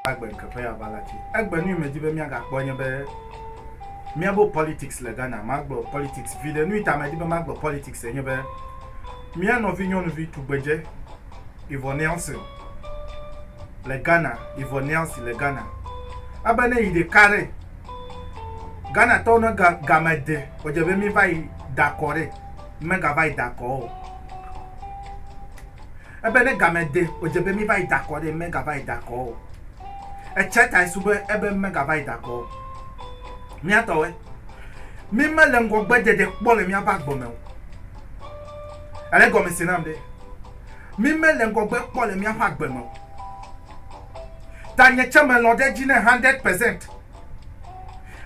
agbe nkeƒe ya va la ti egbe nu me di be miagakpɔ nye be miabo politics le ghana magbe politics vi ɖe nu ita me di be magbe politics enye be mia nɔvi nyɔnuvi tugbedze ivo nelson le ghana ivo nelson le ghana ebe ne yi ɖeka ɖe Ghana tɔwo ne ga game de o dze be mi va yi da kɔ ɖe me ga va yi da kɔ o. Ebe ne game de o dze be mi va yi da kɔ ɖe me ga va yi da kɔ o. Etsɛ ta esu be ebe me ga va yi da kɔ o. Mi atɔ we. Mi me le ŋgɔ gbe dede kpɔ le mi ava gbɔ me o. Ele gɔme se nam de. Mi me le ŋgɔ gbe kpɔ le mi ava gbe me o. Tanye tsɛ melɔ̃ ɖe edzi ne hundred percent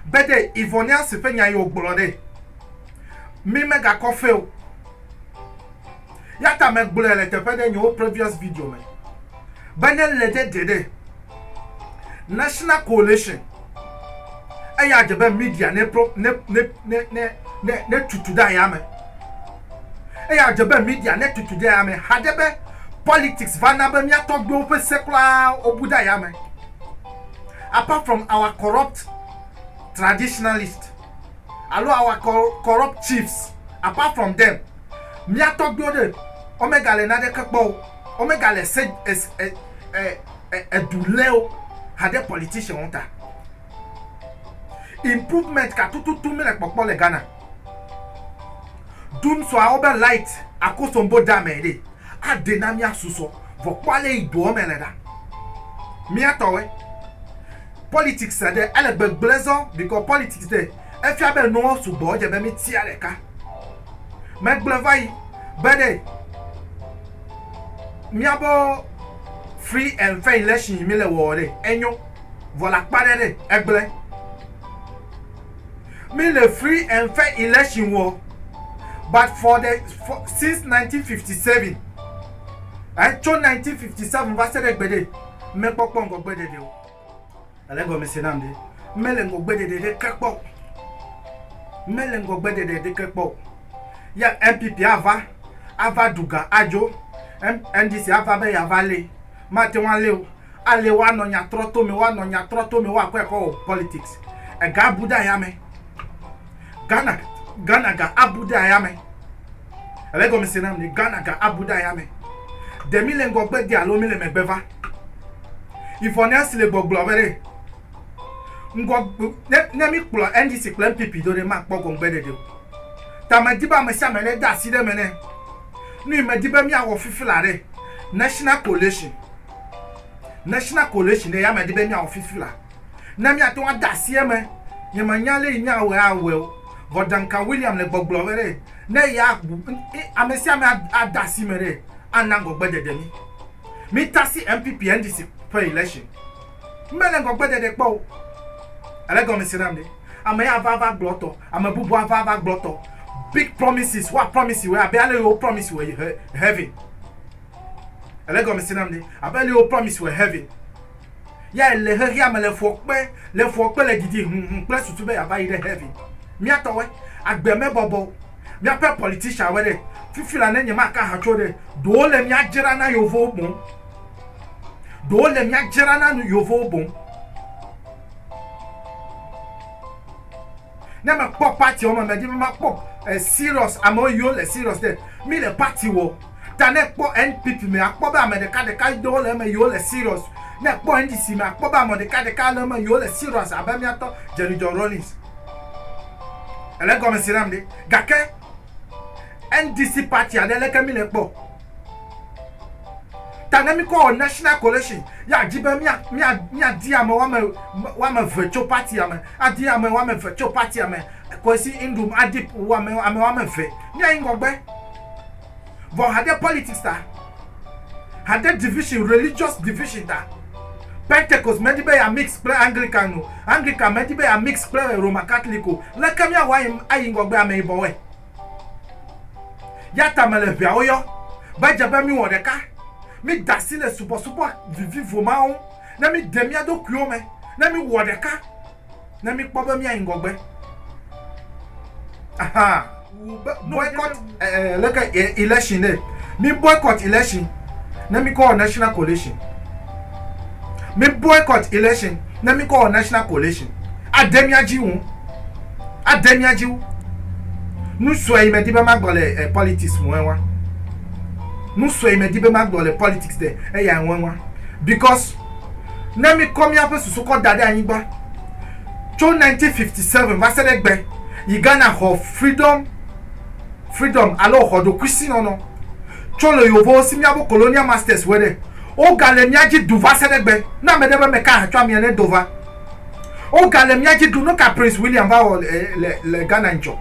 be ɖe Yvonneas ƒe nyae wògblɔ ɖe, mi megakɔ fe o. Yata megblɔe le teƒe ɖe nye wo previous video me be ne le ɖe ɖe ɖe National Coalition eya dze be media ne pro ne ne ne ne ne tutu ɖe ayame. Eya dze be media ne tutu ɖe yame haɖe be politics va na be mía tɔgbuiwo ƒe se kura wobu ɖe ayame. Apart from our corrupt traditionalist alo our corrupt chiefs, apart from them, mía tɔgbuiwo ɖe omega le naɖeke kpɔ o, omega le se edu lé o haɖe politicianwo ta. Improvement ka tututu míle kpɔkpɔ le Ghana? Ɖu ŋsuawo be light akosombo de amɛ ɖɛ aɖɛ na mía susɔ. Vɔ kpɔ ale yi doɔ mɛ le ɖa. Mía tɔwɛ. Politics ɖe ele gbegble zɔ because politics ɖe efia be enuwo sugbɔ edze be mí tia ɖeka. Megblɔɛ vayi be ɖe mía bo free and fair election yi mí le wɔɔ ɖe enyo. vɔ la kpa ɖe ɖe egble. Mi le free and fair election wɔ but for the for, since 1957 eh, tso 1957 va se ɖe gbe ɖe mekpɔkpɔ ŋgɔgbe ɖeɖe o. Ele gɔme se nam ɖe mele ŋgɔgbe ɖeɖe ɖe ke kpɔ o. Mele ŋgɔgbe ɖeɖe ɖe ke kpɔ o. Ya NPP ava ava duga adzo NDC ava be yava le Mate ŋu alé o. Ale woanɔ nya trɔ to me, woanɔ nya trɔ to me, woakɔe kɔ wɔ politics. Ega abu ɖe ayame. Ghana, Ghana ga abu ɖe ayame. Ele egɔmese nam ne, Ghana ga abu ɖe ayame. Ɖe míle ŋgɔgbe de alo míle megbe va? Yvonne nya si le gbɔgblɔ be ɖe, ŋgɔ, ne, ne míkplɔ NDC kple NPP do ɖe, makpɔ gɔŋgbeɖeɖe o. Ta medi be ame sia ame ɖe de asi ɖe eme ne nuyi medi be míawɔ fifi la ɖe. National Coalition, National Coalition ɖe yamea di be míawɔ fifi la. Ne míate ŋu ade asi eme. Nyemenya ale yi míawɔe awɔe o. Vɔ Duncan William le gbɔgblɔ be ɖe ne ya ame sia ame ade asi me ɖe, ana ŋgɔgbedede mí. Mita asi NPP NDC ƒe election. Mele ŋgɔgbeɖeɖe kpɔ o. Èle gɔme se nam ɖe? Ame ya va va gblɔ etɔ, ame bubu ava va gblɔ etɔ. Big promises, woa promise wòe abe ale yi wo promise wòe he, heaven. Èle gɔme se nam ɖe? Abe ale yi wo promise wòe heaven. Ya èle xexea me le fɔkpe, le fɔkpe le didi hũhũ kple susu be yeava yi ɖe heaven. Mía tɔwoe. Agbe mebɔbɔ o. Míaƒe politicianwoe ɖe. Fifi la ne nyemaka ha tso ɖe, ɖewo le mía dzra na yevowo boŋ. ɖewo le mía dzra na nu yovowo boŋ. Ne me kpɔ party wɔme me di me ma kpɔ eh, serious ame yiwo le serious de mi le party wɔ ta ne kpɔ NPP me akpɔ be ame ɖeka ɖeka ɖewo le eme yiwo le serious ne kpɔ NDC me akpɔ be ame ɖeka ɖeka le eme yiwo le serious abe mía tɔ Jerry John Rawlings ele gɔme si nam ɖe gake NDC party aɖe leke mi le kpɔ Ta ne mikɔ wɔ National Coalition, ya di be mia, mia, mia di ame wame, wame ve tso partia me, adi ame wame ve tso partia me, Kwesi Nduom adi wame, ame wame ve. Mia yi ŋgɔgbe. Vɔ hade politics ta, hade division, religious division ta, Pentecost me di be ya mix kple Anglican o, Anglican me di be ya mix kple Roman Catholic o, leke mia wɔ ayi, ayi ŋgɔgbe ameyibɔwɔe? Ya ta mele ʋeawo yɔ be edze be míwɔ ɖeka, mída asi le subɔsubɔ vivivo ma ŋu, ne míde mía ɖokuiwo me, ne míwɔ ɖeka, ne míkpɔ be míayi ŋgɔgbe. Aha. Boycott eh, leke eh, election ɖe. Mi boycott election ne mi kɔ wɔ national coalition. Mi boycott election ne mi kɔ wɔ national coalition. Ade mia dzi wu. Ade mia dzi wu. Nu sue yi me di be ma gblɔ le eh, politics ŋue wa. Nu sue yi me di be ma gblɔ le politics de eya ŋue wa. Because ne mi kɔ miaƒe susu kɔ da ɖe anyigba tso 1957 va se ɖe gbe yi Ghana xɔ freedom freedom alo xɔ ɖokuisinɔnɔ tso le yovowo si miabo colonial masters wue ɖe. Wogale mía dzi du va se ɖe gbe. Ne ame ɖe be meka aha tsɔ amia ne do va. Wogale mía dzi du. Nuka Prince William va wɔ le le Ghana ŋtsɔ?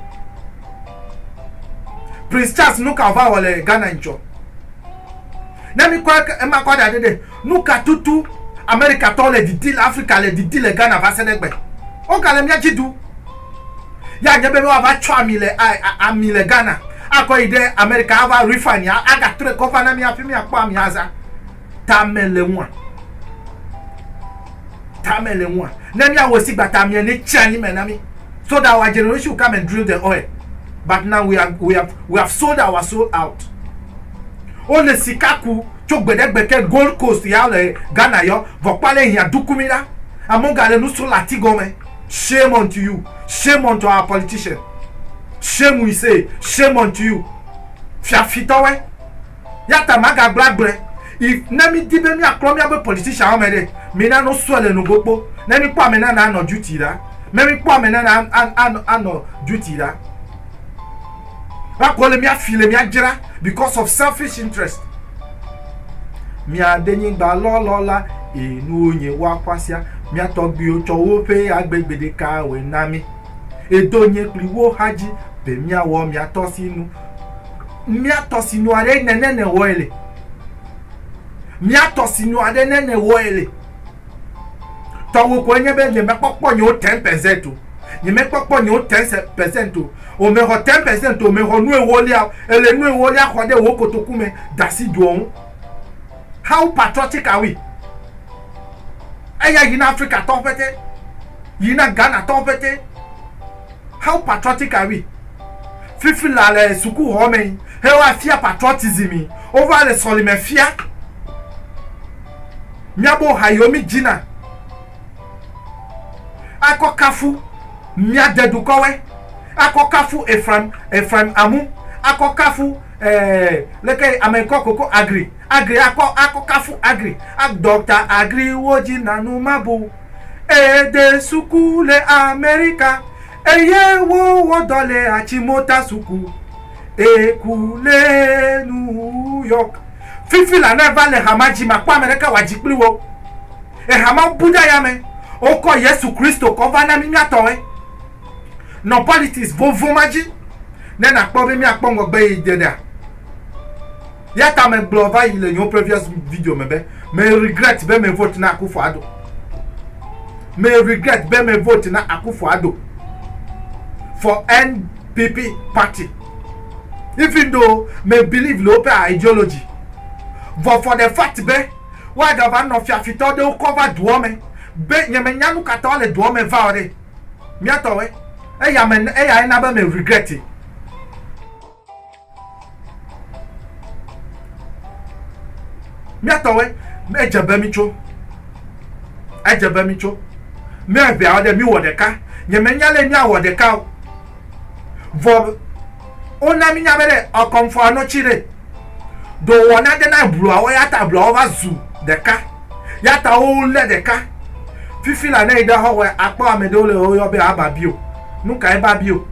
Prince Charles nuka wòva wɔ le Ghana ŋtsɔ? Ne mi kɔ ema kɔ da ɖe ɖe, nuka tutu Amerikatɔwo le didi le Afrika le didi le Ghana va se ɖe gbe? Wogale mía dzi du. Ya dze be ne woava tsɔ ami le ami le Ghana akɔ yi ɖe Amerika ava refine ya agatrɔe kɔ va na mi hafi miakpɔ ami azã. Tame le ŋua. Tame le ŋua. Ne miawɔ si gbata amia ne tsi anyi me na mi. So that our generation will come and drill the oil. But now we have, we have, we have sold our soul out. Wole sika ku tso gbeɖegbe ke Gold Coast ya le Ghana yɔ vɔkpale hia dukumi la. Amewo gale nu srɔ̃ le ati gɔme. Shame unto you, shame unto our politician, shame we say, shame unto you, fiafitɔwɔe, yata magagblɔ agblɔe, if ne mi di be mia klɔ mia be politician wɔ me ɖe, mi na no sɔe le nugo kpo, ne mi kpɔ ame nana anɔ duty ɖa, ne mi kpɔ ame nana anɔ duty ɖa. Woakɔ le mía fi le mía dzra because of selfish interest. Mía de nyigba lɔlɔ la, eye nuwo nye woa xɔasia. Mía tɔgbuiwo tsɔ woƒe agbe gbeɖeka wɔe na mí. Edo nye kpli wo xa dzi be mía wɔ mía tɔsinu. Mía tɔsinu aɖe nene ne wɔe le. Mía tɔsinu aɖe nene wɔe le. Tɔwò koe nye be nyemekpɔkpɔ nyewo ten percent o. Nyemekpɔkpɔ nyewo ten percent o. Wòmexɔ ten percent o, wòmexɔ nu ewolia o. Èle nu ewolia xɔ ɖe wò kotoku me de asi doɔ ŋu. How patriotic are we? Eya yi na Afrikatɔwo pɛtɛ, yi na Ghanatɔwo pɛtɛ. How patriotic are we? Fifi la le sukuxɔ me he woafia patriotism, wova le sɔlime fia. Miabo ha yiwo midzi na akɔ kafu mia de dukɔwɛ, akɔ kafu Efraim, Efraim amu, akɔ kafu eh, leke ame kɔ koko agri, agri akɔ akɔ kafu agri, dɔkta agri wo dzi na nu mabu. Ede suku le Amerika. Eye wo wɔ dɔ le Achimota suku eku le New York. Fifi la ne va le hama dzi ma kpɔ ame ɖeke wa dzi kpli wo. Ehama bu ɖe aya me wo kɔ Yesu Kristo kɔ va na mi mia tɔ we. Nɔ politics vovo ma dzi ne na kpɔ be mia kpɔ ŋgɔgbe yi de ɖa. Ya ta me gblɔ va yi le nyo previous video me be me regret be me vote na Akufo Addo. Me regret be me vote na Akufo Addo for NPP party. Even though me believe le woƒe ideology. Vɔ for the fact be woagava nɔ fiafitɔ ɖewo kɔ va duɔ me be nye me nya nu katã wole duɔ me va o ɖe. Miatɔwe. Eya me eya ena be me regret. míatɔwoe edze be mitso edze be mitso míaʋea ɖe miwɔ ɖeka nyemenya lɛ míawɔ ɖeka o vɔ wona mínya be ɖe ɔkɔmfɔ anɔtsi ɖe do wɔna de na bluawo ya ta bluawo va zu ɖeka ya ta wo lé ɖeka fifi la ne yi ɖe xɔwɔe akpɔ ame ɖewo le woyɔ be ababio nuka ebabio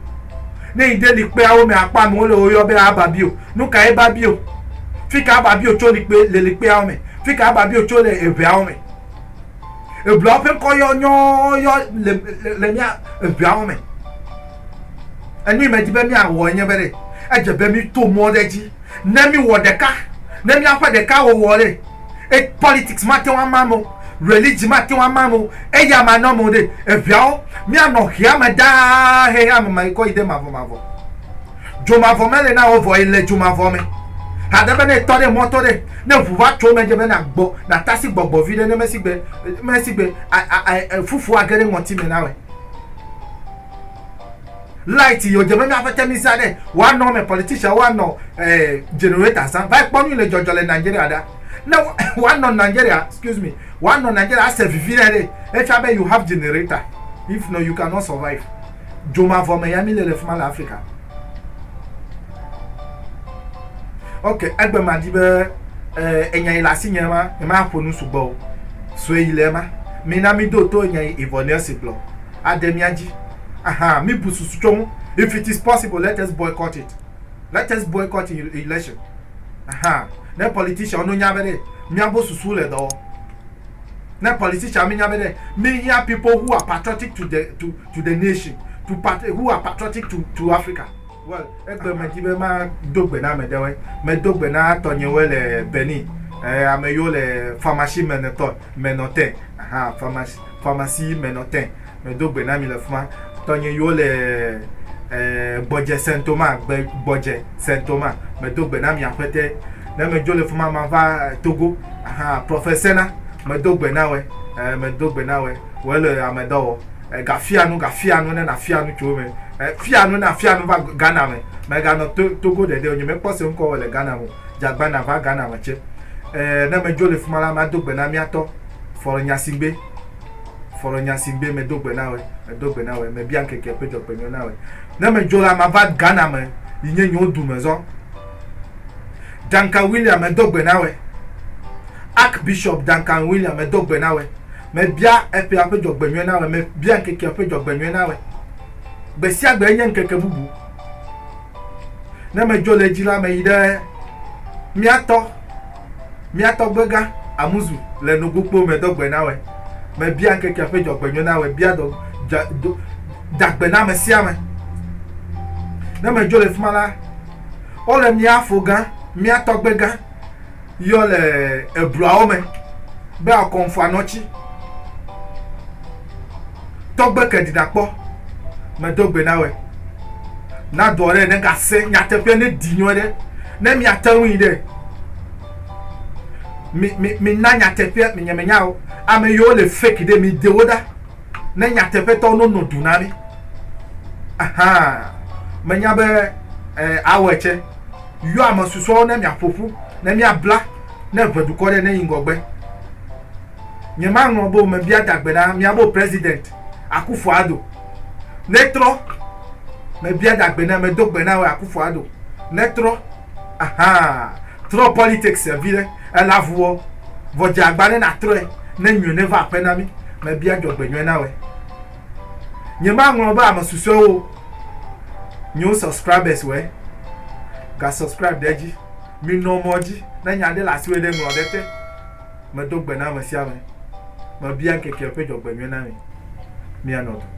Ne yi ɖe likpeawo me akpɔ amewo le woyɔ be aba bio. Nuka eba bio? Fika aba bio tso likpe le likpeawo me? Fika aba bio tso le eŋeawo me? Ebluawo ƒe ŋkɔ yɔ nyɔɔ yɔ le le mía eŋeawo me. Enui me di be míawɔ enye be ɖe edze be míto mɔ ɖe edzi ne míwɔ ɖeka ne míaƒe ɖeka wɔwɔ ɖe. E politics mate ŋu ama ame o, religion mate ŋu ama ame o, eya manɔ ame o ɖe. Eŋeawo, míanɔ ŋea me ɖaa hehe ame ma yi kɔ yi ɖe mavɔmavɔ. Dzomavɔ mele na wò vɔ èle dzomavɔ me. Haɖe be ne ètɔ ɖe mɔto ɖe, ne ŋu va tso eme dze be nàgbɔ, nàtasi gbɔgbɔ viɖe ne mesigbe, mesigbe, a, a, a, e, fufu age ɖe ŋɔti me nawɔe. light yɔ dze be míaƒe te misa ɖe woanɔ me politician woanɔ eh, generator zã va kpɔ nu le dzɔdzɔ le nigeria ɖa ne woanɔ nigeria excuse me woanɔ nigeria ase vivi ɖe ɖe efia be you have generator if no you cannot survive dzomavɔ me ya mi le le fima le africa ok egbe ma di be eh, enya yi le asi nye ma ema ƒo nu sugbɔ o sue yi le ema mina mi do to enya yi ivɔ ne si gblɔ ade mía dzi. Aha, mibu susu tso ŋu. If it is possible, let us boycott it. Let us boycott election. Aha, ne politicianwo no nya be ɖe, míabo susu le dɔ wɔm. Ne politician mi nya be ɖe, mi hiã people who are patriotic to the, to, to the nation, to pat, who are patriotic to, to Africa. Well, egbe me di be ma do gbe na ame ɖewoe. Me do gbe na tɔnyewoe le Benin. Eh, ame yiwo le pharmacie me ne tɔ, me nɔ te. Aha, pharmacie. pharmacie me nɔ tɛ me do gbe na mi le fuma tɔnye yo le eh, gbɔdze saint thomas gbe gbɔdze saint thomas me do gbe na mi aƒete ne me dzo le fuma ma va eh, togo aha professeur na me do gbe na we eh, me do gbe na we we le ame dɔ wɔ eh, gafia nu gafia nu ne na fia nu tso me eh, fia nu na fia nu va ghana me me ga nɔ to, togo ɖeɖe o nye me kpɔ se ŋkɔ wɔ le ghana me o jagbana va ghana me tse eh, ne me dzo le fuma la ma do gbe na miatɔ Fɔ ɖe nya si ŋgbé, fɔ ɖe nya si ŋgbé medo gbe na wòe, medo gbe na wòe, mebia ŋkeke ƒe dzɔgbenyɔ na wòe. Ne medzo la, mava Ghana me yi nye nyewo du me zɔ. Duncan William, medo gbe na wòe. Archbishop Duncan William, medo gbe na wòe. Mebia eƒea ƒe dzɔgbenyɔe na wòe, mebia ŋkekea ƒe dzɔgbenyɔe na wòe. Gbesiagbe enye ŋkeke bubu. Ne medzo le edzi la, meyi ɖe mía tɔ, mía tɔgbega Amuzu le Nogokpo me do gbe na wòe. Mebia ŋkekea ƒe dzɔgbenyo na wòe, bia dɔ, dza, do, dagbe na ame sia ame. Ne medzo le fi ma la, wole mía fo gã, mía tɔgbega yɔ le ebluawo me be akɔnfuanɔtsi tɔgbe ke ɖiɖakpɔ medo gbe na wɛ na dɔ ɖe ne gase nyateƒe ne di nyɔ ɖe ne miate ŋui ɖe mi mi mi na nyateƒe mi nyemenya o ame yiwo le fake ɖe mi dewo ɖa ne nyateƒetɔ no no du na mi ahan menya be eh, awɔ etse Yɔ ame susɔewo ne mia ƒoƒu, ne mia bla, ne ʋe dukɔ ɖe ne yi ŋgɔgbe. Nye ma ŋlɔ bo me bia dagbe na mia bo president Akuffo Addo. Ne trɔ me bia dagbe na me do gbe na we Akuffo Addo. Ne trɔ ahaa trɔ politics e vi ɖe ela vuwɔ vɔ dze agba ne na trɔe ne nyɔe ne va aƒe na mi me bia djɔgbe nyɔe na we. Nyemaŋlɔ be ame susɔewo nyewo subscribers wɛ. Ga subscribe ɖe edzi. Minɔ mɔ dzi. Ne nya ɖe le asi wɛ ɖe ŋlɔ ɖe te. Medo gbe na ame sia ame. Mebia ŋkeke ƒe dzɔgbenyuie na mi. Mianɔ du.